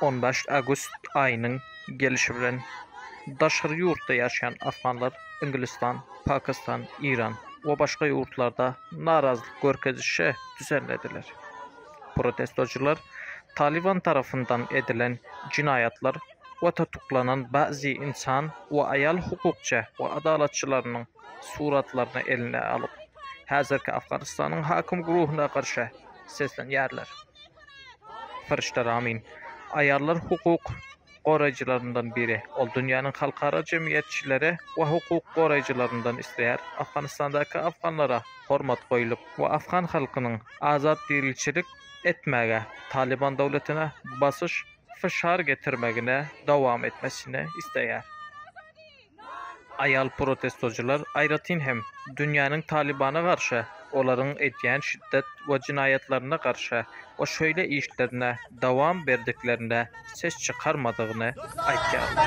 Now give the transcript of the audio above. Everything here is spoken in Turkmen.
On bäş awgust aýynyň gelşi bilen daşary ýurtda ýaşaýan afganlar Ingilistan, Pakistan, Iran we başga ýurtlarda narazylyk görkezişe düzenlediler. Protestoçylar Talyban tarapyndan edilen jinaýatlar we tutuklanan bäzi ynsan we aýal hukukçy we adalatçylarynyň suratlaryny eline alyp, häzirki Afganistanyň hakim guruhyna garşy seslenýärler. Fyryşda Ramin, aýallar hukuk goraýjylaryndan biri. Ol dünýäniň halkara jemgyýetçileri we hukuk goraýjylaryndan isleýär, Afganistandaky afganlara hormat goýlup we afgan halkynyň azat diriçilik etmäge, Talyban döwletine basyş fyşar getirmegine dowam etmesini isleýär. Aýal protestoçylar aýratyn hem dünýäniň Talybana garşy, olaryň edýän şiddet we jenaýatlaryna garşy we şeýle işlerine dowam berdiklerine ses çykarmadygyny aýdýarlar.